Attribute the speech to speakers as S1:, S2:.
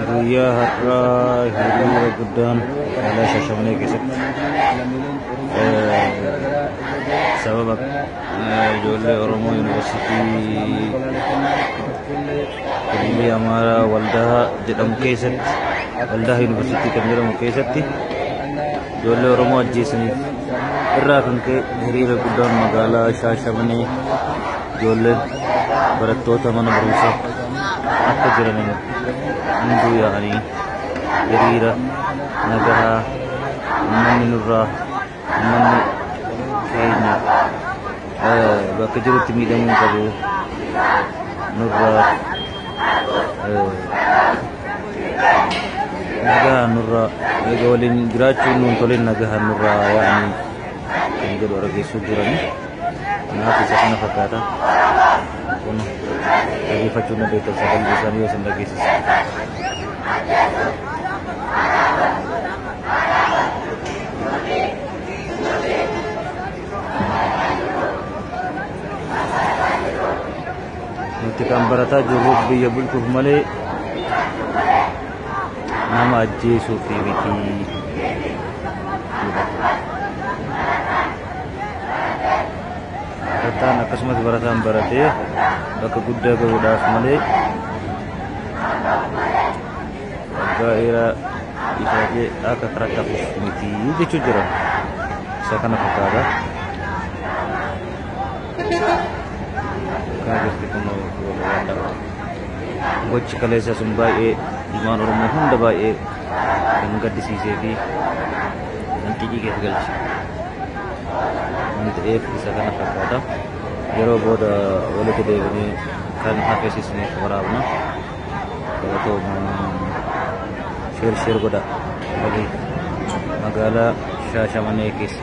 S1: Guyyaa har'aa hiriira guddaan magaalaa Shaashamanee keessatti sababa ijoollee Oromoo Yuunivarsiitii Hiriirri Amaaraa Waldaa jedhamu keessatti, Waldaa Yuunivarsiitii kan jedhamu keessatti ijoollee Oromoo ajjeesaniif irraa kan ka'e hiriira guddaan magaalaa Shaashamanee ijoolleen barattoota mana barumsaa akka jiraniin hunduu yaa'anii hiriira nagahaa uummanni nurraa ummanni keenya bakka jirutti miidhamuu hin qabu nurra nagahaan nurra eega waliin jiraachuun nuun toleen nagahaan nurra yaa'anii kan jedhu argeessuu jiranii kanaaf isa kana fakkaata kun dhageeffachuu na beekan sagalee isaanii yoo isin dhageessisa. nuti kan barataa jirru biyya bulchuuf malee nama ajjeesuuf miti. Barataan akkasumas barataan baratee bakka guddaa gahuudhaaf malee gaa'eera ifaajee akka karaa qabuuf miti jechuu jira. Isa kana fakkaata. Kana jirti kun walwaadha. Gochi kaleessa sun baay'ee ilmaan Oromoo hunda baay'ee kan gaddisiisee fi kan xiiqii keessa galche. Waan ta'eef isa kana fakkaata. Yeroo booda walitti deebinee kan hafeessisne waraabna. Sheer sheer godhaa. Magaalaa Shaashamanee keessa.